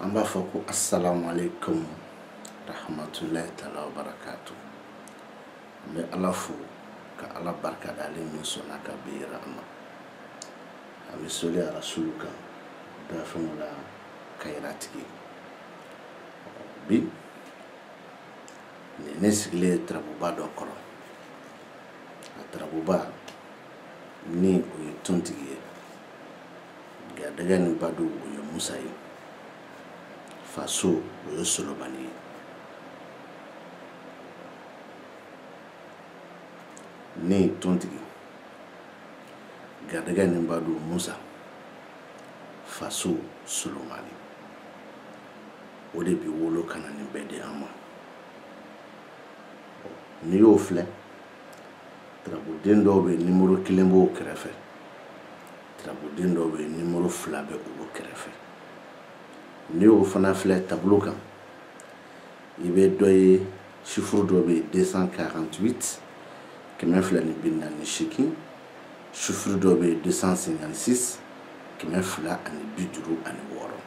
an b'a fɔ ko asalamualeykum rahamatulayi taala wa barakatu an bɛ ala fo ka ala barika da ale min sɔnna ka bi yira an na an bɛ soli arasulu kan dafɛnw la kayiratigi bi ne sigilen ye tarabuba dɔ kɔrɔ a tarabuba ni o ye tontigi ye garijɛgɛ ni baden o ye musa ye faso o ye solomani ye ni tontigi garijɛgɛ ni baden musa faso solomani o de bɛ wolo ka na nin bɛɛ di an ma n'i y'o filɛ tarabuden dɔw bɛ nimoro kelen b'o kɛrɛfɛ tarabuden dɔw bɛ nimoro fila bɛ olu kɛrɛfɛ n'i y'o fana filɛ tabolo kan i bɛ dɔ ye sifuru dɔ bɛ yen 248 kɛmɛ fila ni bi naani ni seegin sifuru dɔ bɛ yen 256 kɛmɛ fila ani bi duuru ani wɔɔrɔ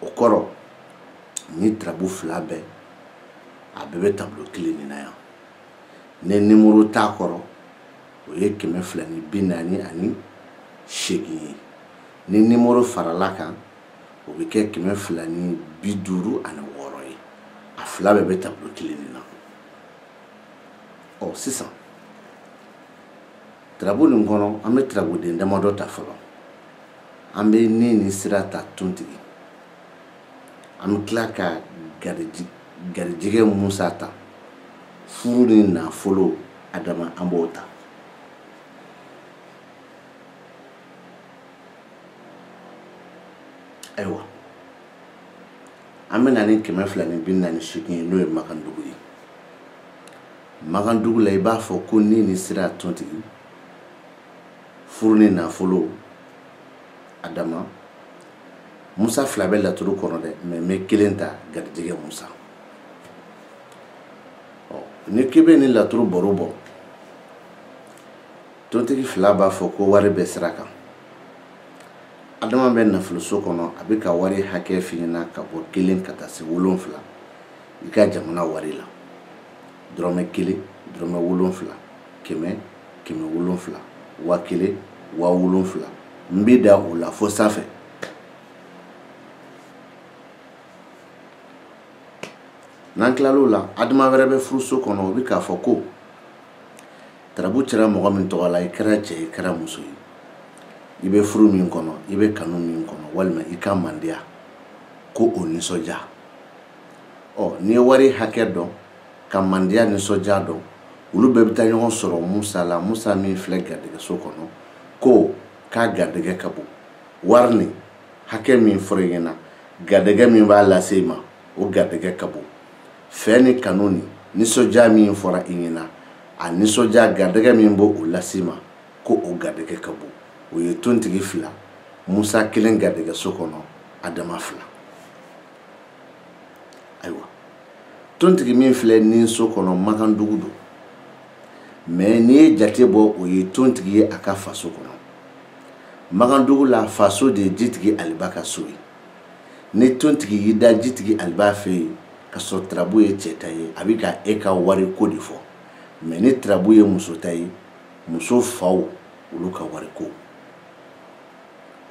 o kɔrɔ nin tarabu fila bɛɛ a bɛɛ bɛ tablo kelen nin na yan ni nimoro t'a kɔrɔ o ye kɛmɛ fila ni bi naani ani seegin ye ni nimoro faral'a kan o bɛ kɛ kɛmɛ fila ni bi duuru ani wɔɔrɔ ye a fila bɛɛ bɛ tablo kelen nin na ɔ sisan tarabu nin kɔnɔ an bɛ tarabuden damadɔ ta fɔlɔ an bɛ ni ni sira ta tontigi an bɛ tila ka garijɛgɛ musa ta furu ni nafolo adama an b'o ta ayiwa an bɛ na ni kɛmɛ fila ni bi naani seegin ye n'o ye makandugu ye makandugu la i b'a fɔ ko ni ni sira tontigi furu ni nafolo adama musa fila bɛ laturu kɔnɔ dɛ mɛ n bɛ kelen ta garijɛgɛ musa ɔ ni k'i bɛ nin laturu baro bɔ tontigi fila b'a fɔ ko wari bɛ sira kan adama bɛ nafoloso kɔnɔ a bɛ ka wari hakɛ f'i ɲɛna ka bɔ kelen ka taa se wolonfila i ka jamana wari la dɔrɔmɛ kelen dɔrɔmɛ wolonfila kɛmɛ kɛmɛ wolonfila wa kelen wa wolonfila n bɛ da o la fo sanfɛ n'an tilal'o la adama wɛrɛ bɛ furuso kɔnɔ o bɛ k'a fɔ ko tarabu cɛra mɔgɔ min tɔgɔ la i kɛra cɛ i kɛra muso ye i bɛ furu min kɔnɔ i bɛ kanu min kɔnɔ walima i ka mandiya ko o nisɔndiya ɔ n'i ye wari hakɛ dɔn ka mandiya nisɔndiya dɔn olu bɛɛ bɛ taa ɲɔgɔn sɔrɔ musa la musa min filɛ garijɛgɛso kɔnɔ ko k'a garijɛgɛ ka bon wari nin hakɛ min fɔra i ɲɛna garijɛgɛ min b'a lase i ma o garijɛgɛ ka bon fɛn ni kanu ni nisɔndiya min fɔra i ɲɛna a nisɔndiya garijɛgɛ min b'o lase i ma ko o garijɛgɛ ka bon o ye tontigi fila musa kelen garijɛgɛso kɔnɔ adama fila ayiwa tontigi min filɛ ni so kɔnɔ magandugu don mɛ n'i ye jate bɔ o ye tontigi ye a ka faso kɔnɔ magandugu la faso de ye jitigi aliba ka so ye ni tontigi y'i da jitigi aliba fɛ yen k'a sɔrɔ tarabu ye cɛ ta ye a bɛ ka e ka wari ko de fɔ mɛ ni tarabu ye muso ta ye muso faw olu ka wari ko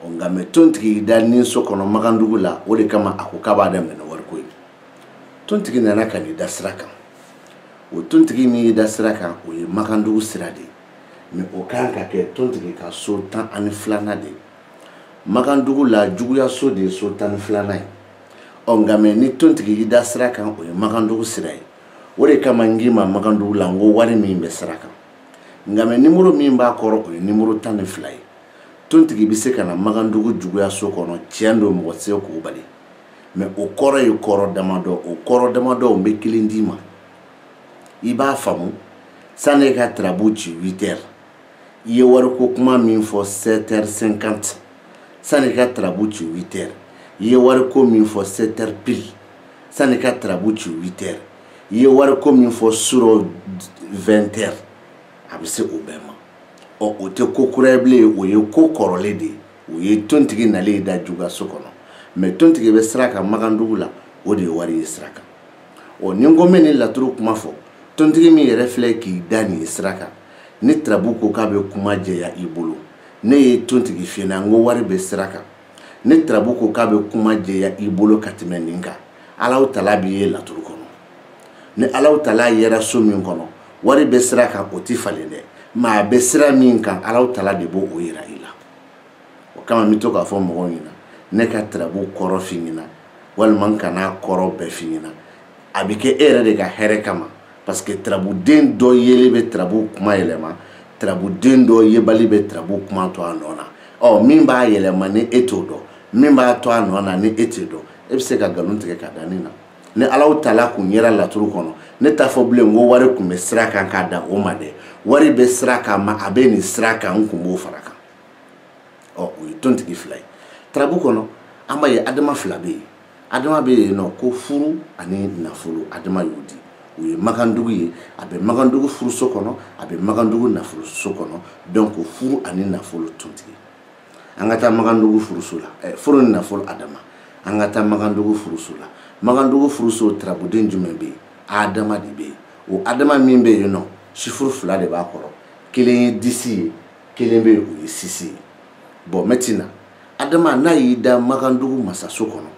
nka mɛ tontigi y'i da ni so kɔnɔ magandugu la o de kama a ko k'a b'a daminɛ ni wariko ye tontigi nana ka n'i da sira kan o tontigi min y'i da sira kan o ye magandugu sira de ye mɛ o kan ka kɛ tontigi ka so tan ani filanan de ye magandugu la juguyaso de ye so tan ni filanan ye ɔ nka mɛ ni tontigi y'i da sira kan o ye magandugu sira ye o de kama n k'i ma magandugu la n ko wari min bɛ sira kan nka mɛ nimoro min b'a kɔrɔ o ye nimoro tan ni fila ye tontigi bɛ se ka na magandugu juguyaso kɔnɔ tiɲɛ don mɔgɔ tɛ se k'o bali mɛ o kɔrɔ ye kɔrɔ damadɔ o kɔrɔ damadɔ n bɛ kelen d'i ma i b'a faamu sani i ka tarabu ci huit heures i ye wariko kuma min fɔ sept heures cinquante sani i ka tarabu ci huit heures i ye wariko min fɔ sept heures pile sani i ka tarabu ci huit heures i ye wariko min fɔ su rɔ vingt heures a bɛ se o bɛɛ ma ɔ o tɛ ko kura ye bilen o ye ko kɔrɔlen de ye o ye tontigi nalen y'i da juguyaso kɔnɔ mɛ tontigi bɛ sira kan magandugu la o de ye wari ye sira kan ɔ ni n ko n bɛ nin laturu kuma fɔ tontigi min yɛrɛ filɛ k'i da nin ye sira kan ni tarabu ko k'a bɛ kuma jɛya i bolo ne ye tontigi f'i ɲɛna n ko wari bɛ sira kan ni tarabu ko k'a bɛ kuma jɛya i bolo ka tɛmɛ nin kan alahu taala b'i ye laturu kɔnɔ ni ala tala yera so min kɔnɔ wari bɛ sira kan o tɛ falen dɛ mais a bɛ sira min kan ala tala de b'o yira i la o kama n bɛ to k'a fɔ mɔgɔw ɲɛna ne ka tarabu kɔrɔ f'i ɲɛna walima n kana kɔrɔ bɛɛ f'i ɲɛna a bɛ kɛ e yɛrɛ de ka hɛrɛ kama parce que tarabuden dɔ yeli bɛ tarabu kuma yɛlɛma tarabuden dɔ yebali bɛ tarabu kuma to a nɔ na ɔ min b'a yɛlɛma ni e t'o dɔn min b'a to a nɔ na ni e t'o dɔn e bɛ se ka nkalon tigɛ ka da ne na ni alahu tala kun yera laturu kɔnɔ ne t'a fɔ bilen ko wari kun bɛ sira kan k'a da o ma dɛ wari bɛ sira kan mais a bɛ nin sira kan n kun b'o fara kan ɔ o ye tontigi fila ye tarabu kɔnɔ an b'a ye adama fila bɛ yen adama bɛ yen nɔ ko furu ani nafolo adama y'o di o ye makandugu ye a bɛ makandugu furuso kɔnɔ a bɛ makandugu nafoloso kɔnɔ donc furu ani nafolo tontigi an ka taa makandugu furuso la eh, furu ni nafolo adama an ka taa makandugu furuso la makandugu furuso tarabuden jumɛn bɛ yen adama de bɛ yen o adama min bɛ yen nɔ chiffre fila de b'a kɔrɔ kelen ye dix ye kelen bɛ yen o ye six ye bon maintenant adama n'a y'i da makandugu masaso kɔnɔ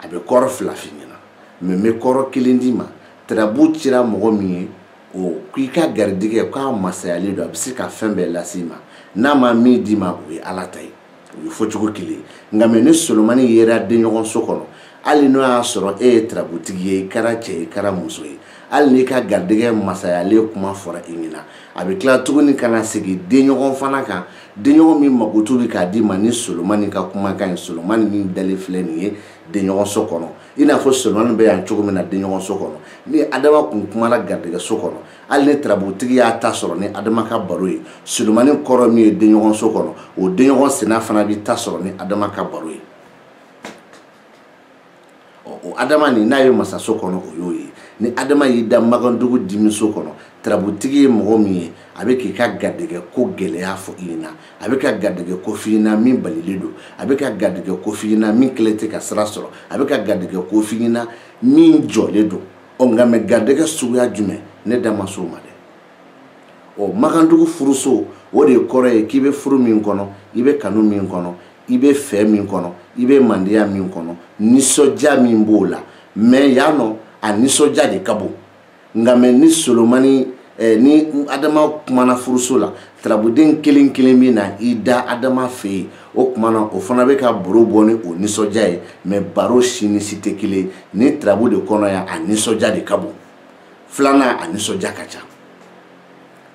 a bɛ kɔrɔ fila f'i ɲɛna mais n bɛ kɔrɔ kelen d'i ma tarabu cira mɔgɔ min ye o k'i ka garijɛgɛ k'a masayalen don a bɛ se ka fɛn bɛɛ lase i ma n'a ma min d'i ma o ye ala ta ye o ye fɔcogo kelen ye nka mais ni solomani yera denɲɔgɔn so kɔnɔ hali n'o y'a sɔrɔ e ye tarabutigi ye i kɛra cɛ ye i kɛra muso ye hali n'i ka garijɛgɛ masayalen kuma fɔra i ɲɛna a bɛ tila tuguni ka na segin denɲɔgɔn fana kan denɲɔgɔn min mako tun bɛ k'a d'i ma ni solomani ka kumakan ye solomani min dalen filɛ nin ye denɲɔgɔnso kɔnɔ i n'a fɔ solomani bɛ yan cogo min na denɲɔgɔnso kɔnɔ ni adama kun kumana garijɛgɛso kɔnɔ hali ni tarabutigi y'a ta sɔrɔ ni adama ka baro ye solomani kɔrɔ min ye denɲɔgɔnso kɔnɔ o denɲɔgɔn senna fana b'i ta sɔrɔ ni adama ka baro ye o adama nin n'a ye masaso kɔnɔ o y'o ye ni adama y'i da magandugu dimiso kɔnɔ tarabutigi ye mɔgɔ min ye a bɛ k'i ka garijɛgɛ ko gɛlɛya fɔ i ɲɛna a bɛ ka garijɛgɛ ko f'i ɲɛna min balilen don a bɛ ka garijɛgɛ ko f'i ɲɛna min kɛlen tɛ ka sira sɔrɔ a bɛ ka garijɛgɛ ko f'i ɲɛna min jɔlen don ɔ nka mais garijɛgɛ suguya jumɛn ne da ma s'o ma dɛ ɔ magandugu furuso o de kɔrɔ ye k'i bɛ furu min kɔnɔ i bɛ kanu min kɔnɔ i bɛ fɛ min kɔnɔ i bɛ mandiya min kɔnɔ nisɔndiya min b'o la mais yan nɔ a nisɔndiya de ka bon nka mais ni solomani eh, ni adama kumana furuso la tarabuden kelen kelen bɛ na i da adama fɛ yen o kumana o fana bɛ ka baro bɔ ni o nisɔndiya ye mais baro si ni si tɛ kelen nin tarabu de kɔnɔ yan a nisɔndiya de ka bon filanan a nisɔndiya ka ca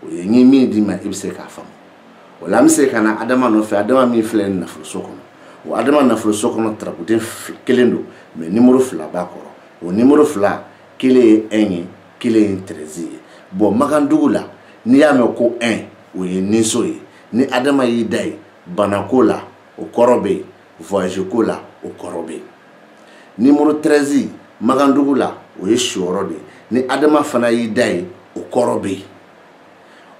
o ye n ye min d'i ma i bɛ se k'a faamu o la an bɛ se ka na adama nɔfɛ adama min filɛ nin nafoloso kɔnɔ o adama nafoloso kɔnɔ tarabuden kelen don mɛ nimoro fila b'a kɔrɔ o nimoro fila kelen ye un ye kelen ye tɛrɛzi ye bɔn makandugu la n'i y'a mɛn ko un o ye ninso ye ni adama y'i da ye banako la o kɔrɔ bɛ yen voyage ko la o kɔrɔ bɛ yen nimoro tɛrɛzi magandugu la o ye siyɔrɔ de ye ni adama fana y'i da ye o kɔrɔ bɛ yen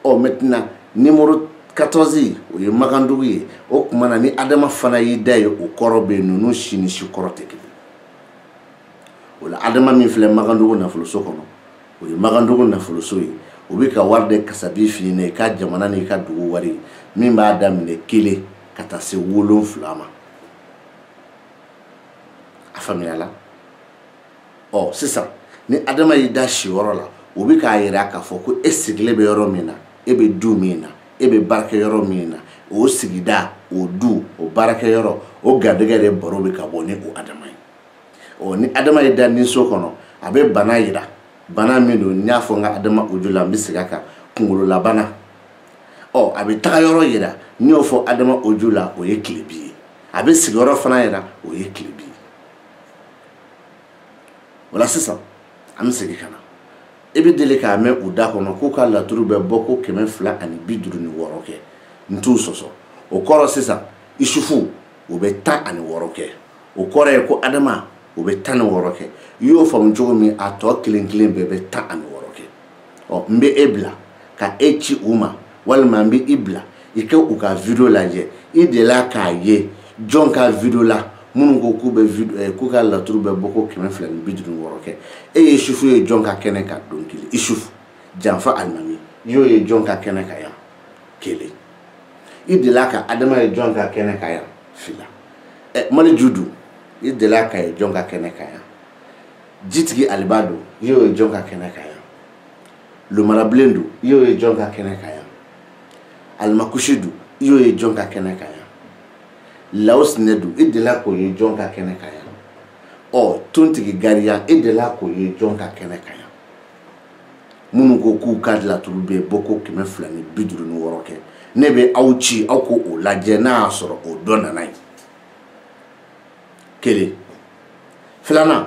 ɔ maintenant nimoro katɔzi o ye magandugu ye o tuma na ni adama fana y'i da ye o kɔrɔ bɛ yen ninnu si ni si kɔrɔ tɛ kelen o la adama min filɛ magandugu nafoloso kɔnɔ o ye magandugu nafoloso ye o bɛ ka wari de kasabi f'i ɲɛna i ka jamana n'i ka dugu wari min b'a daminɛ kelen ka taa se wolonfila ma a faamuyala ɔ sisan ni adama y'i da siyɔrɔ la o bɛ k'a yira k'a fɔ ko e sigilen bɛ yɔrɔ min na e bɛ du min na e bɛ baarakɛ yɔrɔ min na o sigida o du o baarakɛ yɔrɔ o garijɛgɛ de baro bɛ ka bɔ ni o adama ye ɔ ni adama y'i da ninso kɔnɔ a bɛ bana yira bana min don n y'a fɔ n ka adama audio la n bɛ segin a kan kunkololabana ɔ a bɛ tagayɔrɔ yira n y'o fɔ adama audio la o ye tilebin ye a bɛ sigiyɔrɔ fana yira o ye tilebin ye o la sisan an bɛ segin ka na i bɛ deli k'a mɛn u da kɔnɔ k'u ka laturu bɛ bɔ ko kɛmɛ fila ani bi duuru ni wɔɔrɔ kɛ n t'u sɔsɔ o kɔrɔ sisan isufu o bɛ tan ani wɔɔrɔ kɛ o kɔrɔ ye ko adama o bɛ tan ni wɔɔrɔ kɛ i y'o faamu cogo min a tɔ kelen kelen bɛɛ bɛ tan ani wɔɔrɔ kɛ ɔ n bɛ e bila ka e ci u ma walima n bɛ i bila i ka u ka video lajɛ i delila k'a ye jɔn ka video la minnu ko k'u bɛ video eh, k'u ka laturu bɛ bɔ ko kɛmɛ fila ni bi duuru ni wɔɔrɔ kɛ e ye isufu ye jɔn ka kɛnɛ kan don kelen isufu janfa alimami i y'o ye jɔn ka kɛnɛ kan yan kelen i delila ka adama ye jɔn ka kɛnɛ kan yan fila ɛ eh, maleju don i delila k'a ye jɔn ka kɛnɛ kan yan jitigi aliba don i y'o ye jɔn ka kɛnɛ kan yan lomarabilen don i y'o ye jɔn ka kɛnɛ kan yan alimakusi don i y'o ye jɔn ka kɛnɛ kan yan laosinɛ don i delila k'o ye jɔn ka kɛnɛ kan yan ɔ tontigi gariya i delila k'o ye jɔn ka kɛnɛ kan yan minnu ko k'u ka laturu bɛ bɔ ko kɛmɛ fila ni bi duuru ni wɔɔrɔ kɛ ne bɛ aw ci aw k'o lajɛ n'a y'a sɔrɔ o dɔ nana ye kelen filanan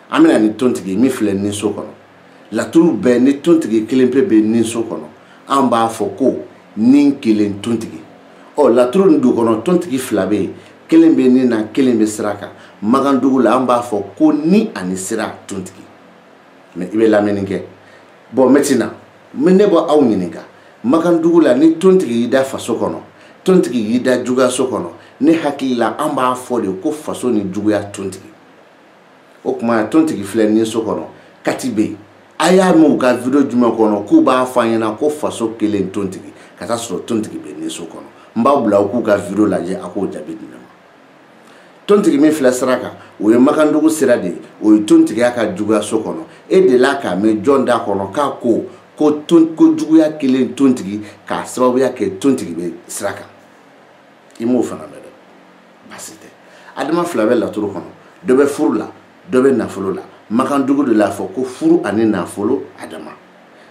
an bɛna ni tontigi min filɛ ninso kɔnɔ laturu bɛɛ ni tontigi kelen pe bɛ ninso kɔnɔ an b'a fɔ ko ni kelen tontigi ɔ laturu nin du kɔnɔ tontigi fila bɛ yen kelen bɛ nin na kelen bɛ sira kan magandugu la an b'a fɔ ko ni ani sira tontigi mɛ i bɛ lamɛnni kɛ bɔn mɛtina ne b'aw ɲininka makandugu la ni tontigi y'i da faso kɔnɔ tontigi y'i da juguyaso kɔnɔ ne hakili la an b'a fɔ de ko faso ni juguya tontigi o kuma tontigi filɛ ni so kɔnɔ kati bɛ yen a y'a mɛn u ka video jumɛn kɔnɔ k'u b'a fɔ an ɲɛna ko faso kelen tontigi ka taa sɔrɔ tontigi bɛ ni so kɔnɔ n b'aw bila u k'u ka video lajɛ a k'o jaabi di ne ma tontigi min filɛ sira kan o ye makandugu sira de ye o ye tontigi y'a ka juguyaso kɔnɔ e delila k'a mɛn jɔn da kɔnɔ k'a ko ko ton ko juguya kelen tontigi k'a sababuya kɛ tontigi bɛ sira kan i m'o fana mɛn dɛ baasi tɛ adama fila bɛ laturu kɔnɔ dɔ bɛ furu la dɔ bɛ nafolo la makandugu de l'a fɔ ko furu ani nafolo adama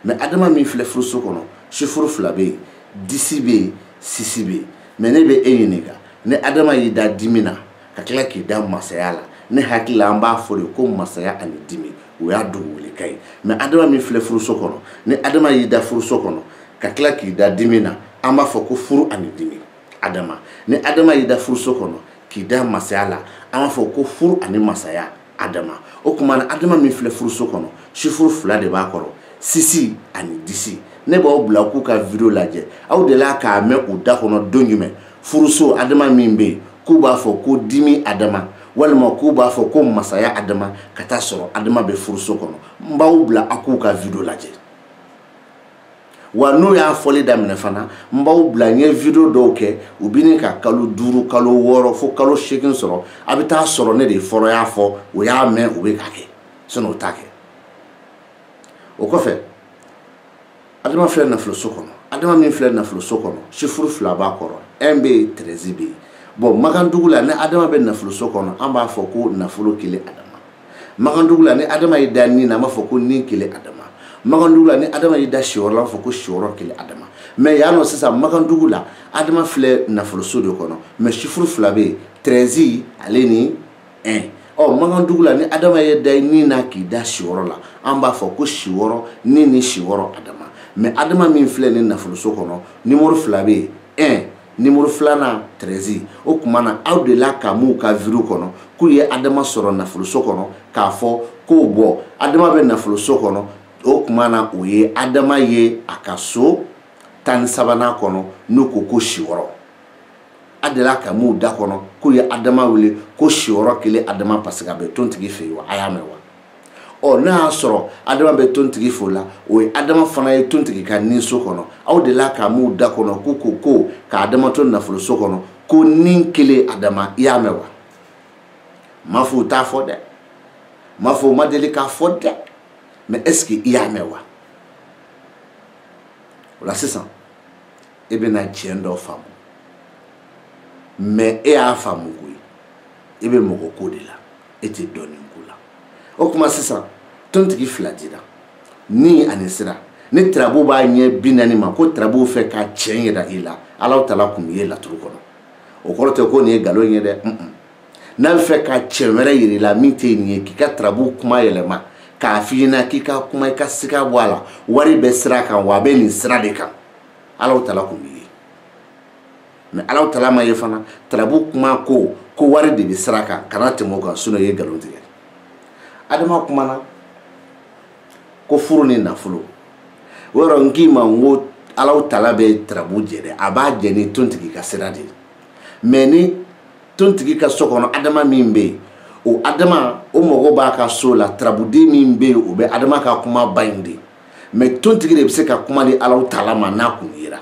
mɛ adama min filɛ furuso kɔnɔ sifuru fila bɛ yen disi bɛ yen sisi bɛ yen mɛ ne bɛ e ɲininka ni adama y'i da dimi na ka tila k'i da masaya la ne hakili la an b'a fɔ de ko masaya ani dimi o y'a tɔgɔ wele kan ye mɛ adama min filɛ furuso kɔnɔ ni adama y'i da furuso kɔnɔ ka tila k'i da dimi na an b'a fɔ ko furu ani dimi adama ni adama y'i da furuso kɔnɔ k'i da masaya la an b'a fɔ ko furu ani masaya adama o kuma na adama min filɛ furuso kɔnɔ sifuru fila de b'a kɔrɔ sisi ani disi ne b'aw bila a k'u ka video lajɛ aw delila k'a mɛn u da kɔnɔ don jumɛn furuso adama min bɛ yen k'u b'a fɔ ko dimi adama walima k'u b'a fɔ ko masaya adama ka taa sɔrɔ adama bɛ furuso kɔnɔ n b'aw bila a k'u ka video lajɛ wa n'u y'a fɔli daminɛ fana n b'aw bila n ye video dɔw kɛ u bɛ ne ka kalo duuru kalo wɔɔrɔ fo kalo seegin sɔrɔ a bɛ taa sɔrɔ ne de fɔlɔ y'a fɔ u y'a mɛn u bɛ k'a kɛ sinɔn o t'a kɛ o kɔfɛ adama filɛ nafoloso kɔnɔ adama min filɛ nafoloso kɔnɔ sifuru fila b'a kɔrɔ un bɛ yen treize bɛ yen bɔn makandugu la ni adama bɛ nafoloso kɔnɔ an b'a fɔ ko nafolo kelen adama makandugu la ni adama y'i da ni na an b'a fɔ ko ni kelen adama makandugu la ni adama y'i da siyɔrɔ la an b'a fɔ ko siyɔrɔ kelen adama mɛ yan nɔ sisan makandugu la adama filɛ nafoloso de kɔnɔ mɛ sifuru fila bɛ yen tɛrɛzi ale ni ɛn ɔ makandugu la ni adama y'i da ni na k'i da siyɔrɔ la an b'a fɔ ko siyɔrɔ ni ni siyɔrɔ adama mɛ adama min filɛ nin nafoloso kɔnɔ nimoro fila bɛ yen ɛn nimoro filanan tɛrɛzi o kuma na aw delila k'a m'u ka video kɔnɔ k'u ye adama sɔrɔ nafoloso kɔnɔ k'a fɔ ko bɔn adama bɛ nafoloso kɔnɔ o kuma na o ye adama ye a ka so tan ni sabanan kɔnɔ n'u ko ko siyɔrɔ a delila k'a m'u da kɔnɔ k'u ye adama wele ko siyɔrɔ kelen adama paseke a bɛ tontigi fɛ yen wa a y'a mɛn wa ɔ n'a y'a sɔrɔ adama bɛ tontigi fo la o ye adama fana ye tontigi ka ni so kɔnɔ aw delila k'a m'u da kɔnɔ ko ko ko ka adama to nafolo so kɔnɔ ko ni kelen adama i y'a mɛn wa n m'a fɔ u t'a fɔ dɛ n m'a fɔ u ma deli k'a fɔ dɛ mais est ce que i y'a mɛn wa o la sisan e bɛna tiɲɛ dɔ faamu mais e y'a faamu koyi e bɛ mɔgɔ ko de la e tɛ dɔnni ko la o kuma sisan tontigi fila dira ni ani sira ni tirabu b'a ɲɛ bi naani ma ko tirabu fɛ ka tiɲɛ yira i la alaw tala kun ye laturu kɔnɔ o kɔrɔ tɛ ko nin ye nkalon ye dɛ n'a bɛ fɛ ka tiɲɛ wɛrɛ yira i la min tɛ nin ye k'i ka tirabu kuma yɛlɛma k'a f'i ɲɛna k'i ka kuma i ka siga bɔ a la wari bɛ sira kan wa a bɛ nin sira de kan alaw tala kun b'i ye mais alaw tala ma ye fana tarabu kuma ko ko wari de bɛ sira kan kana tɛmɛ o kan sinon i ye nkalon tigɛ adama kumana ko furu ni nafolo o yɔrɔ n k'i ma n ko alaw tala bɛ tarabu jɛ dɛ a b'a jɛ ni tontigi ka sira de ye mais ni tontigi ka so kɔnɔ adama min bɛ yen o adama o mago b'a ka so la tarabuden min bɛ yen o bɛ adama ka kuma ba in de mais tontigi de bɛ se ka kuma di alaw tala ma n'a kun yera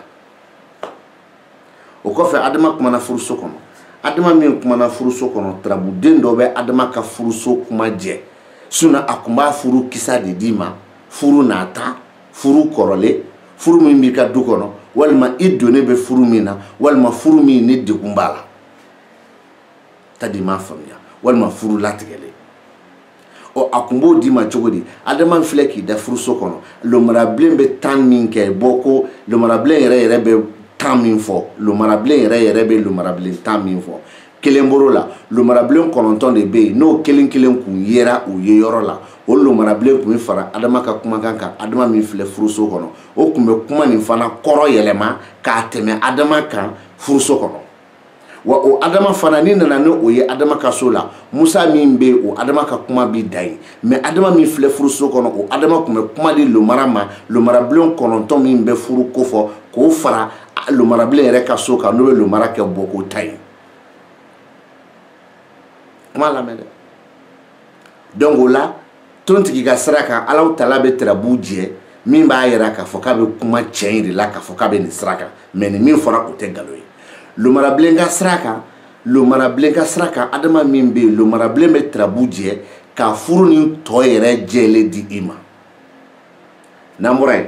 o kɔfɛ adama kumana furuso kɔnɔ adama min kumana furuso kɔnɔ tarabuden dɔ bɛ adama ka furuso kuma jɛ sinon a kun b'a furu kisa de d'i ma furu nata furu kɔrɔlen furu min b'i ka du kɔnɔ walima i donnen bɛ furu min na walima furu min ni degun b'a la tadi m'a faamuya walima furu latigɛlen ɔ a kun b'o d'i ma cogo di adama filɛ k'i da furuso kɔnɔ lomarabilen bɛ tan min kɛ bɔ ko lomarabilen yɛrɛ yɛrɛ bɛ tan min fɔ lomarabilen yɛrɛ yɛrɛ bɛ lomarabilen tan min fɔ kelen bɔr'o la lomarabilen kɔnɔntɔn de bɛ yen n'o kelen kelen kun yera u ye yɔrɔ la o lomarabilen kun bɛ fara adama ka kumakan kan adama min filɛ furuso kɔnɔ o kun bɛ kuma nin fana kɔrɔ yɛlɛma k'a tɛmɛ adama kan furuso kɔnɔ wa o adama fana ni nana ni o ye adama ka so la musa min bɛ o adama ka kuma bi da ye mais adama min filɛ furuso kɔnɔ o adama kun bɛ kuma di lomara ma lomarabilen kɔnɔntɔn min bɛ furu ko fɔ k'o fara lomarabilen yɛrɛ ka so kan n'o bɛ lomara kɛ bɔ k'o ta ye kuma lamɛn dɛ donc o la tontigi ka sira kan alaw tala bɛ tirabu jɛ min b'a yira k'a fɔ k'a bɛ kuma tiɲɛ in de la k'a fɔ k'a bɛ nin sira kan mais nin min fɔra o tɛ nkalon ye lomarabilen ka sira kan lomarabilen ka sira kan adama min bɛ yen lomarabilen bɛ tirabu jɛ ka furu ni tɔ yɛrɛ jɛlen di i ma n'an bɔra yen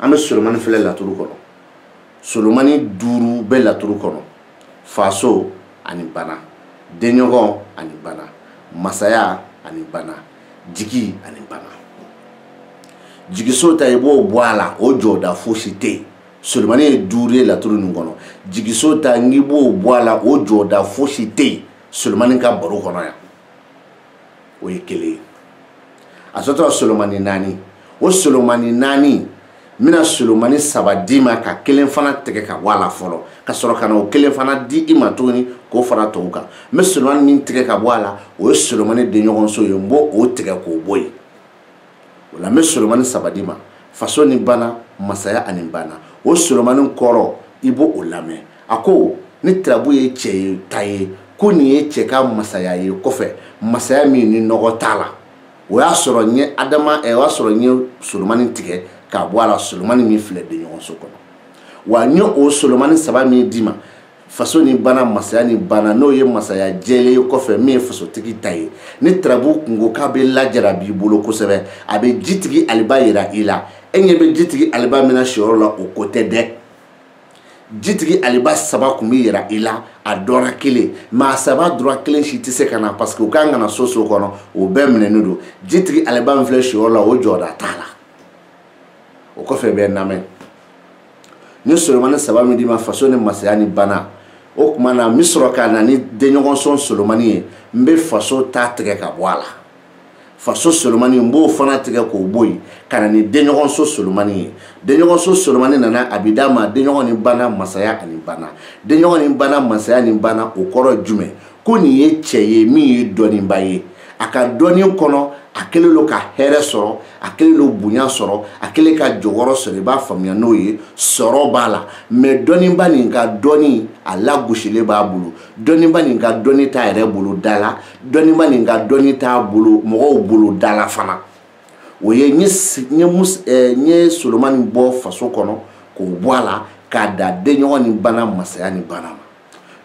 an bɛ solomani filɛ laturu kɔnɔ solomani duuru bɛ laturu kɔnɔ faso ani bana denɲɔgɔn ani bana masaya ani bana jigi ani bana jigiso ta i b'o bɔ a la o jɔda fosi tɛ yen solomani ye duuru ye laturu nin kɔnɔ jigiso ta n'i b'o bɔ a la o jɔda fosi tɛ yen solomani ka baro kɔnɔ yan o ye kelen ye a tɔ tora solomani naani o solomani naani n bɛna solomani saba d'i ma ka kelen fana tigɛ ka bɔ a la fɔlɔ ka sɔrɔ ka na o kelen fana di i ma tuguni k'o fara tɔw kan n bɛ solomani min tigɛ ka bɔ a la o ye solomani denɲɔgɔnso ye n b'o o tigɛ k'o bɔ yen o la n bɛ solomani saba d'i ma faso ni bana masaya ani bana o solomani kɔrɔ i b'o o lamɛn a ko ni turabu ye cɛ ye ta ye ko nin ye cɛ ka masaya ye kɔfɛ masaya min ni nɔgɔ t'a la o y'a sɔrɔ n ye adama ɛ eh, o y'a sɔrɔ n ye solomani tigɛ k'a bɔ a la solomani min filɛ denɲɔgɔnso kɔnɔ wa n ye o solomani saba min d'i ma faso ni bana masaya ni bana n'o ye masaya jɛlen ye kɔfɛ min ye fasotigi ta ye ni turabu kungo k'a bɛ lajara b'i bolo kosɛbɛ a bɛ jitigi aliba yira i la e ɲɛ bɛ jitigi aliba min na siyɔrɔ la o ko tɛ dɛ jitigi aliba saba tun bɛ yira i la a dɔ ra kelen mɛ a saba dɔ ra kelen si tɛ se ka na parce que u ka kan ka na so o so kɔnɔ o bɛɛ minɛnen don jitigi aliba min filɛ siyɔrɔ la o jɔda t'a la o kɔfɛ b'a lamɛn n ye solomani saba min d'i ma faso ni masaya ni bana o tuma na n bɛ sɔrɔ ka na ni denɲɔgɔnso solomani ye n bɛ faso ta tigɛ ka bɔ a la faso solomani n b'o fana tigɛ k'o bɔ yen ka na ni denɲɔgɔnso solomani ye denɲɔgɔnso solomani nana a bɛ d'a ma denɲɔgɔn ni bana masaya ani bana denɲɔgɔn ni bana masaya ni bana o kɔrɔ ye jumɛn ko nin ye cɛ ye min ye dɔnnibaa ye a ka dɔnni kɔnɔ a kɛlen don ka hɛrɛ sɔrɔ a kɛlen don bonya sɔrɔ a kɛlen ka jɔyɔrɔ sɔrɔ i b'a faamuya n'o ye sɔrɔ b'a la mɛ dɔnniba nin ka dɔnni a lagosilen b'a bolo dɔnniba nin ka dɔnni t'a yɛrɛ bolo da la dɔnniba nin ka dɔnni t'a bolo mɔgɔw bolo da la fana o ye n ye solomani bɔ faso kɔnɔ k'o bɔ a la k'a da denɲɔgɔn ni bana masaya ni bana ma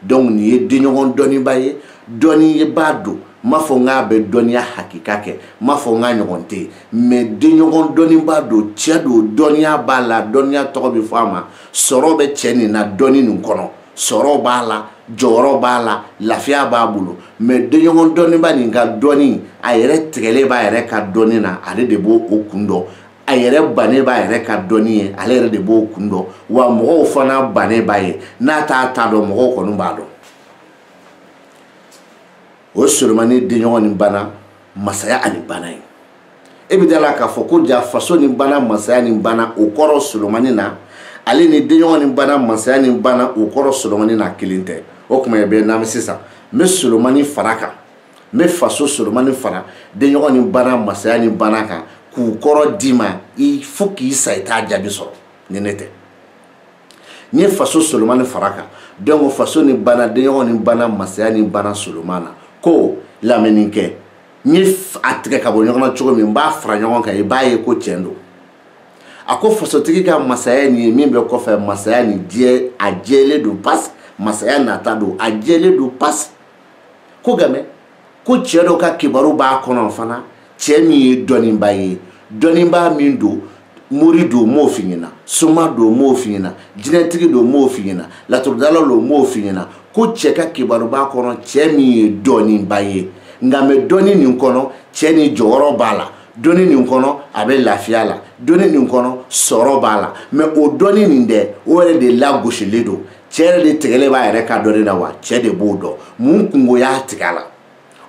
donc nin ye denɲɔgɔn dɔnniba ye dɔnnibaa don n m'a fɔ n k'a bɛ dɔnniya hakika kɛ n m'a fɔ n k'a ɲɔgɔn tɛ yen mɛ denɲɔgɔn dɔnnibaa don cɛ don dɔnniya b'a la dɔnniya tɔgɔ bɛ fɔ a ma sɔrɔ bɛ cɛ nin na dɔnni nin kɔnɔ sɔrɔ b'a la jɔyɔrɔ b'a la lafiya b'a bolo mɛ denɲɔgɔn dɔnniba nin ka dɔnni a yɛrɛ tigɛlen b'a yɛrɛ ka dɔnni na ale de b'o o kun dɔn a yɛrɛ bannen b'a yɛrɛ ka dɔnni ye ale yɛrɛ de b'o kun dɔn wa mɔgɔw fana bannen b'a ye n'a t'a ta dɔn mɔgɔw kɔni b'a dɔn o solomani denɲɔgɔn ni bana masaya ani bana ye e bɛ da la k'a fɔ ko ja faso ni bana masaya ni bana o kɔrɔ solomani na ale ni denɲɔgɔn ni bana masaya ni bana o kɔrɔ solomani na kelen tɛ o tuma bɛ n'an bɛ sisan n bɛ solomani fara kan n bɛ faso solomani fara denɲɔgɔn ni bana masaya ni bana kan k'u kɔrɔ d'i ma i fo k'i sa i t'a jaabi sɔrɔ ni ne tɛ n ye faso solomani fara kan donc faso ni bana denɲɔgɔn ni bana masaya ni bana solomani na ko lamɛnni kɛ n ye a tigɛ ka bɔ ɲɔgɔn na cogo min n b'a fara ɲɔgɔn kan i b'a ye ko tiɲɛ don a ko fasotigi ka masaya nin ye min bɛ kɔfɛ masaya nin diɲɛ a jɛlen don pasi masaya nata don a jɛlen don pasi ko nka mɛ ko cɛ dɔ ka kibaru b'a kɔnɔ fana cɛ min ye dɔnnibaa ye dɔnnibaa min don mori don n m'o f'i ɲɛna soma don n m'o f'i ɲɛna jinɛtigi don n m'o f'i ɲɛna laturudala don n m'o f'i ɲɛna ko cɛ ka kibaru b'a kɔnɔ cɛ min ye dɔnnibaa ye nka mɛ dɔnni nin kɔnɔ cɛ nin jɔyɔrɔ b'a la dɔnni nin kɔnɔ a bɛ lafiya la dɔnni nin kɔnɔ sɔrɔ b'a la mɛ o dɔnni nin dɛ o yɛrɛ de lagosilen don cɛ yɛrɛ de tigɛlen b'a yɛrɛ ka dɔnni na wa cɛ de b'o dɔn mun kunko y'a tigɛ a la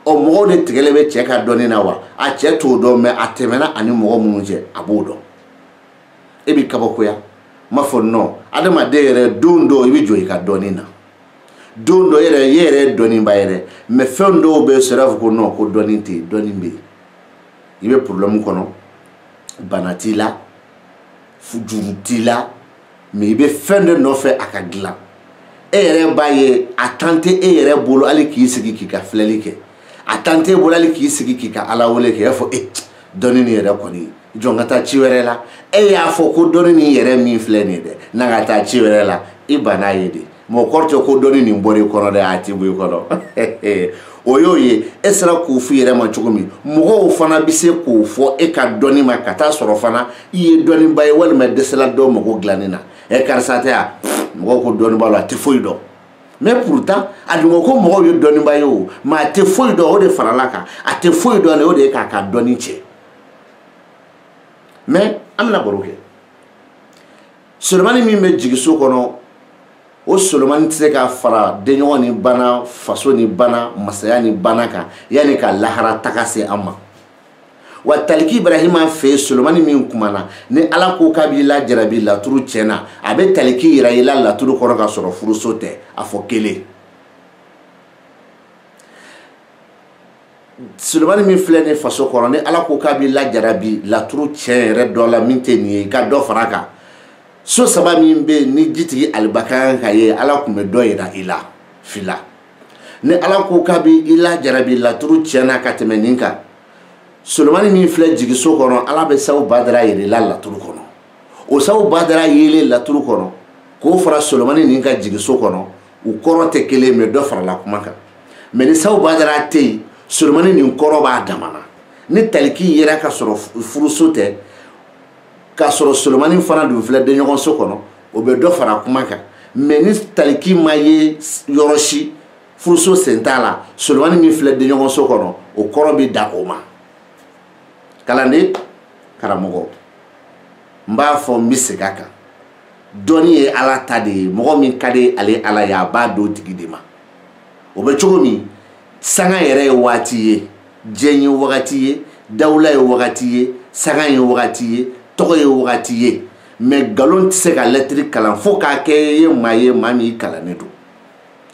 ɔ mɔgɔw de tigɛlen bɛ cɛ ka dɔnni na wa a cɛ t'o dɔn mɛ a tɛmɛna a ni mɔgɔ minnu cɛ a b'o dɔn e b'i kabakoya n b'a fɔ nɔn adamaden yɛrɛ don dɔw i bɛ jɔ i ka dɔnni na don dɔ yɛrɛ e yɛrɛ ye dɔnniba yɛrɛ mɛ fɛn dɔw bɛ sɔrɔ a fɔ ko nɔn ko dɔnni tɛ yen dɔnni bɛ yen i bɛ porobilɛmu kɔnɔ bana t'i la juru t'i la mais i bɛ fɛn de nɔfɛ a ka dilan e yɛrɛ b'a ye a tan tɛ e yɛrɛ bolo hali k'i sigi k'i ka filɛli kɛ a tan t'e bolo hali k'i sigi k'i ka ala wele kɛ i b'a fɔ e dɔnni nin yɛrɛ kɔni jɔ n ka taa ci wɛrɛ la e y'a fɔ ko dɔnni nin yɛrɛ min filɛ nin ye dɛ na ka taa ci wɛrɛ la i banna a ye de mais o kɔrɔ tɛ ko dɔnni nin bɔra i kɔnɔ dɛ a tɛ bɔ i kɔnɔ o y'o ye e sera k'o f'i yɛrɛ ma cogo min mɔgɔw fana bɛ se k'o fɔ e ka dɔnni ma ka taa sɔrɔ fana i ye dɔnniba ye walima dɛsɛla dɔ mago dilanni na ɛ karisa tɛ yan mɔgɔw ko dɔnni b'a la a tɛ foyi dɔn mais pourtant a dun ko ko mɔgɔw ye dɔnniba ye o mɛ a tɛ foyi dɔn o de farala kan a tɛ foyi dɔn de o de ye k'a ka dɔnni tiɲɛ mais an bɛna baro kɛ solomani min bɛ jigiso kɔnɔ o solomani tɛ se ka fara denɲɔgɔn ni bana faso ni bana masaya ni bana kan yanni ka lahara taga se an ma wa taliki ibrahima fɛ yen solomani min kumana ni ala ko k'a b'i lajarabi laturu tiɲɛ na a bɛ taliki yira i la laturu kɔnɔ ka sɔrɔ furuso tɛ a fɔ kelen solomani min filɛ nin faso kɔnɔ ni ala ko k'a b'i lajarabi laturu tiɲɛ yɛrɛ dɔ la min tɛ nin ye i ka dɔ fara a kan so saba min bɛ yen ni jitigi alibakaya ka ye ala tun bɛ dɔ yira i la fila ni ala ko k'a b'i i lajarabi laturu tiɲɛ na ka tɛmɛ nin kan solomani min filɛ jigiso kɔnɔ ala bɛ sabu badara yira i la laturu kɔnɔ o sabu badara yelen laturu kɔnɔ k'o fara solomani nin ka jigiso kɔnɔ u kɔrɔ tɛ kelen mɛ dɔ farala kuma kan mɛ ni sabu badara tɛ yen solomani nin kɔrɔ b'a damana ni taliki yera ka sɔrɔ furuso tɛ k'a sɔrɔ solomani fana dun filɛ denɲɔgɔnso kɔnɔ o bɛ dɔ fara kuma kan mɛ ni taliki ma ye yɔrɔ si furuso sen t'a la solomani min filɛ denɲɔgɔnso kɔnɔ o kɔrɔ bɛ da o ma kalanden karamɔgɔ n b'a fɔ n bɛ segin a kan dɔnni ye ala ta de ye mɔgɔ min ka di ale ala ye a b'a d'o tigi de ma o bɛ cogo min sanga yɛrɛ ye waati ye diɲɛ ye wagati ye dawula ye wagati ye sanga ye wagati ye tɔgɔ ye wagati ye mɛ nkalon tɛ se ka lɛtiri kalan fo k'a kɛ i ye maa ye maa min i kalannen don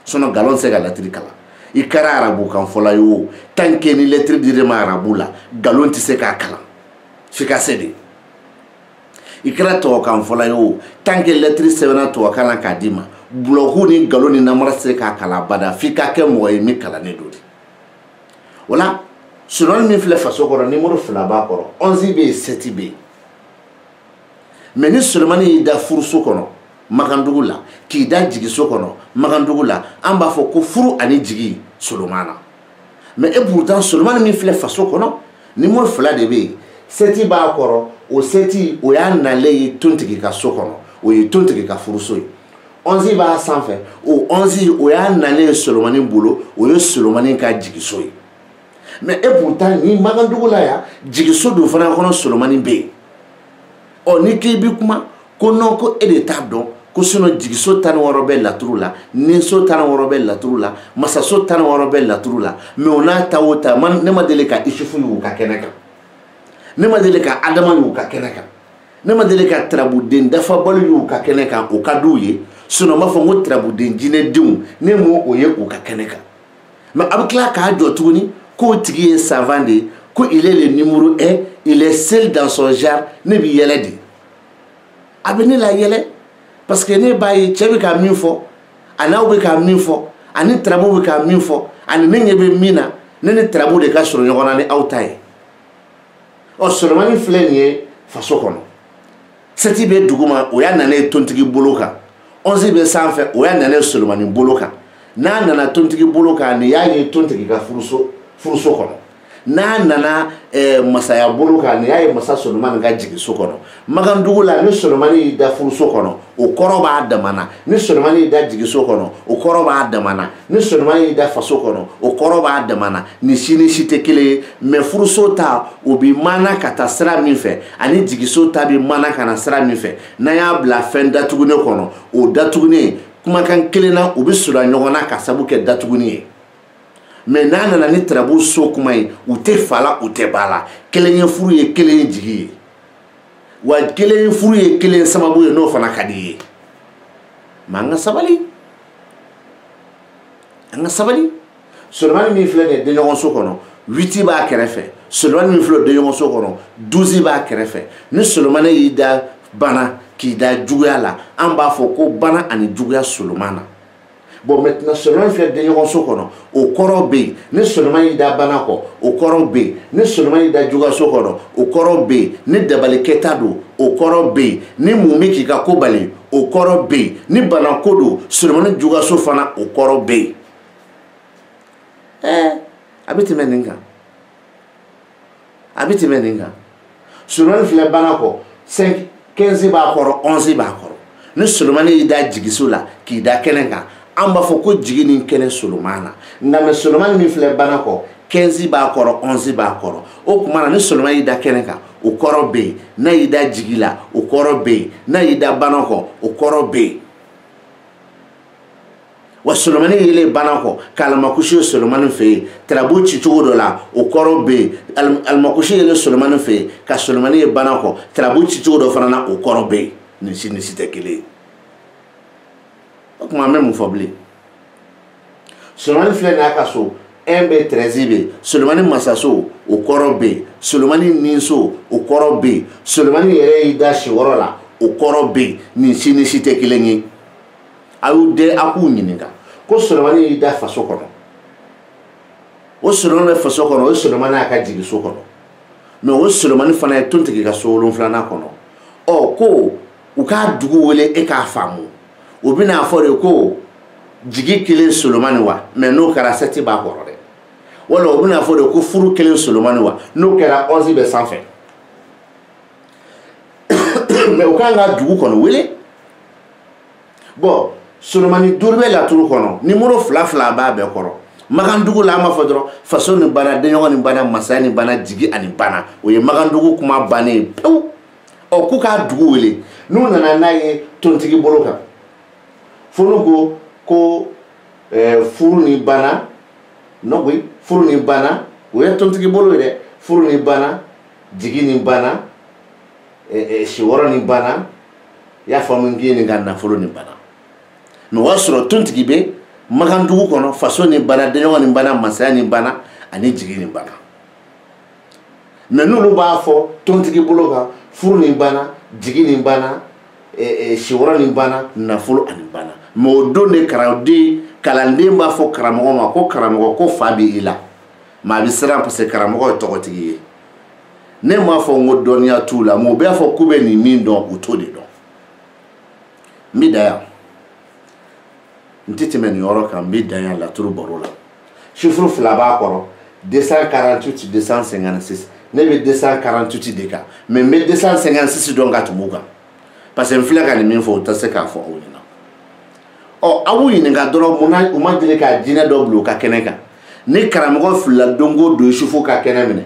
sinɔn nkalon tɛ se ka lɛtiri kalan i kɛra arabukan fɔla ye o tant que ni lɛtiri dir'i ma arabu la nkalon tɛ se k'a kalan f'i ka se de i kɛra tubabukan fɔla ye o tant que lɛtiri sɛbɛnna tubabukan na k'a d'i ma bulɔku ni nkalon ni namara tɛ se k'a kalan abada f'i ka kɛ mɔgɔ ye min kalannen don de o la solomani min filɛ faso kɔrɔ nimoro fila b'a kɔrɔ ɔnzi bɛ yen sɛti bɛ yen mɛ ni solomani y'i da furuso kɔnɔ makandugu la k'i da jigiso kɔnɔ makandugu la an b'a fɔ ko furu ani jigi solomani na mɛ et pourtant solomani min filɛ faso kɔnɔ nimoro fila de bɛ yen sɛti b'a kɔrɔ o sɛti o y'a nalen ye tontigi ka so kɔnɔ o ye tontigi ka furuso ye ɔnzi b'a sanfɛ o ɔnzi o y'a nalen ye solomani bolo o ye solomani ka jigiso ye mɛ et pourtant ni makandugu la yan jigiso dun fana kɔnɔ solomani bɛ yen ɔ n'i k'i bi kuma ko non ko e de t'a dɔn ko sinɔn jigiso tan ni wɔɔrɔ bɛ laturu la ninso tan ni wɔɔrɔ bɛ laturu la masaso tan ni wɔɔrɔ bɛ laturu la mɛ o n'a ta o ta ne ma deli ka isufu y'u ka kɛnɛ kan ne ma deli ka adama y'u ka kɛnɛ kan ne ma deli ka tarabuden dafabali y'u ka kɛnɛ kan o ka d'u ye sinɔn n b'a fɔ n ko tarabuden jinɛdenw ne m'o o ye u ka kɛnɛ kan mɛ a bɛ tila k'a jɔ tuguni k'o tigi ye savant de ye ko il est le numéro un il est seul dans son genre ne bɛ yɛlɛ de a bɛ ne layɛlɛ parce que ne b'a ye cɛ bɛ ka min fɔ ani aw bɛ ka min fɔ ani tarabu bɛ ka min fɔ ani ne ɲɛ bɛ min na ne ni tarabu de ka surun ɲɔgɔn na ni aw ta ye ɔ solomani filɛ nin ye faso kɔnɔ sɛti bɛ duguma o y'a nana ye tontigi bolo kan ɔnzi bɛ sanfɛ o y'a nana ye solomani bolo kan n'a nana tontigi bolo kan nin y'a ye tontigi ka furuso kɔnɔ n'a nana eh, masaya bolo kan nin y'a ye masa solomani ka jigiso kɔnɔ magandugu la ni solomani y'i da furuso kɔnɔ o kɔrɔ b'a damana ni solomani y'i da jigiso kɔnɔ o kɔrɔ b'a damana ni solomani y'i da faso kɔnɔ o kɔrɔ b'a dama na ni si ni si tɛ kelen ye mɛ furuso ta o bi mana ka taa sira min fɛ ani jigiso ta bi mana ka na sira min fɛ n'a y'a bila fɛn datugunen kɔnɔ o datugunen kumakan kelen na u bɛ sura ɲɔgɔn na ka sabu kɛ datuguni ye mɛ n'a nana ni tarabu so kuma ye u tɛ fa la u tɛ ba la kelen ye furu ye kelen ye jigi ye wa kelen ye furu ye kelen sababu ye n'o fana ka di ye mɛ an ka sabali an ka sabali solomani min filɛ nin ye denɲɔgɔnso kɔnɔ witi b'a kɛrɛfɛ solomani min filɛ denɲɔgɔnso kɔnɔ duzi b'a kɛrɛfɛ ni solomani y'i da bana k'i da juguya la an b'a fɔ ko bana ani juguya solomani na bon maintenant solomani filɛ denɲɔgɔnso kɔnɔ o kɔrɔ bɛ yen ni solomani y'i da bana kɔ o kɔrɔ bɛ yen ni solomani y'i da juguyaso kɔnɔ o kɔrɔ bɛ yen ni dabalikɛta don o kɔrɔ bɛ yen ni mɔgɔ bɛ k'i ka ko bali o kɔrɔ bɛ yen ni banako don solomani juguyaso fana o kɔrɔ bɛ yen ɛɛ a bɛ tɛmɛ nin kan a bɛ tɛmɛ nin kan solomani filɛ bana kɔ cinq quinze b'a kɔrɔ onze b'a kɔrɔ ni solomani y'i da jigiso la k'i da kɛnɛ kan an b'a fɔ ko jigi ni kɛnɛ solomani na nka mɛ solomani min filɛ bana kɔ quinze b'a kɔrɔ onze b'a kɔrɔ o tuma na ni solomani y'i da kɛnɛ kan o kɔrɔ bɛ yen n'a y'i da jigi la o kɔrɔ bɛ yen n'a y'i da bana kɔ o kɔrɔ bɛ yen wa solomani yelen bana kɔ ka alamakusi ye solomani fɛ yen tarabu cicogo dɔ la o kɔrɔ bɛ yen alamakusi yelen solomani fɛ yen ka solomani ye bana kɔ tarabu cicogo dɔ fana na o kɔrɔ bɛ yen nin si ni si tɛ kelen ye o tuma an bɛ mun fɔ bilen solomani filɛ nin y'a ka so un bɛ tɛrɛzi bɛ yen solomani masaso o kɔrɔ bɛ yen solomani niso o kɔrɔ bɛ yen solomani yɛrɛ y'i da so wɔɔrɔ la o kɔrɔ bɛ yen nin si ni si tɛ kelen ye. a y'u den a k'u ɲininka ko solomani y'i da faso kɔnɔ o solomani bɛ faso kɔnɔ o solomani y'a ka jigiso kɔnɔ mɛ o solomani fana ye tontigi ka so wolonfilanan kɔnɔ ɔ ko u k'a dugu wele e k'a faamu o bɛn'a fɔ de ko jigi kelen solomani wa mɛ n'o kɛra sɛti b'a kɔrɔ dɛ wala o bɛn'a fɔ de ko furu kelen solomani wa n'o kɛra ɔnzi bɛ sanfɛ mɛ u kan ka dugu kɔnɔ wele bon solomani duuru bɛ laturu kɔnɔ nimoro fila fila b'a bɛɛ kɔrɔ makandugu la an b'a fɔ dɔrɔn faso ni bana denɲɔgɔn ni bana masaya ni bana jigi ani bana o ye makandugu kuma bannen ye pewu ɔ k'u k'a dugu wele n'u nana n'a ye tontigi bolo kan fo n'u ko ko eh, furu ni bana nɔgɔyi furu ni bana o ye tontigi bolo ye dɛ furu ni bana jigi ni bana siwɔrɔ ni bana i y'a faamu n k'i ɲininka nafolo ni bana mɛ o y'a sɔrɔ tontigi bɛ makandugu kɔnɔ faso ni bana denɲɔgɔn ni bana masaya ni bana ani jigi ni bana mɛ n'olu b'a fɔ tontigi bolo kan furu ni bana jigi ni bana siwɔrɔ ni bana nafolo ani bana mɛ o don de kalanden kalanden b'a fɔ karamɔgɔ ma ko karamɔgɔ ko fa bɛ i la mɛ a bɛ siran parce que karamɔgɔ ye tɔgɔtigi ye ne m'a fɔ n ko dɔnniya t'u la mɛ u b'a fɔ k'u bɛ nin min dɔn u t'o de dɔn n bɛ dan yan n tɛ tɛmɛ nin yɔrɔ kan n bɛ dan yan laturu baro la sifuru fila b'a kɔrɔ 248 256 ne bɛ 248 de kan mɛ n bɛ 256 dɔn ka tɛmɛ u kan parce que n filɛ ka nin min fɔ o tɛ se k'a fɔ aw ɲɛna ɔ aw b'u ɲininka dɔrɔn mun na u ma deli ka jinɛ dɔ bila u ka kɛnɛ kan ni karamɔgɔ filila don o don yusufu ka kɛnɛ minɛ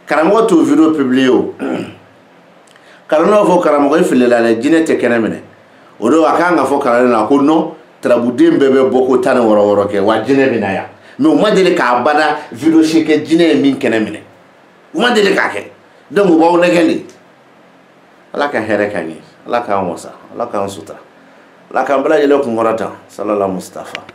karamɔgɔ t'o video publier o kalanden b'a fɔ karamɔgɔ i filila dɛ jinɛ tɛ kɛnɛ minɛ o don a kan ka fɔ kalanden na ko non turabuden bɛɛ bɛ bɔ ko tan ni wɔɔrɔ wɔɔrɔ kɛ wa jinɛ bɛ na yan mɛ u ma deli k'a bada video si kɛ jinɛ ye min kɛnɛ minɛ u ma deli k'a kɛ donc u b'aw nɛgɛn de ala ka hɛrɛ k'an ye ala k'an wasa ala k'an sutura ala k'an bɛɛ lajɛlen kunkɔrɔta salala mustafa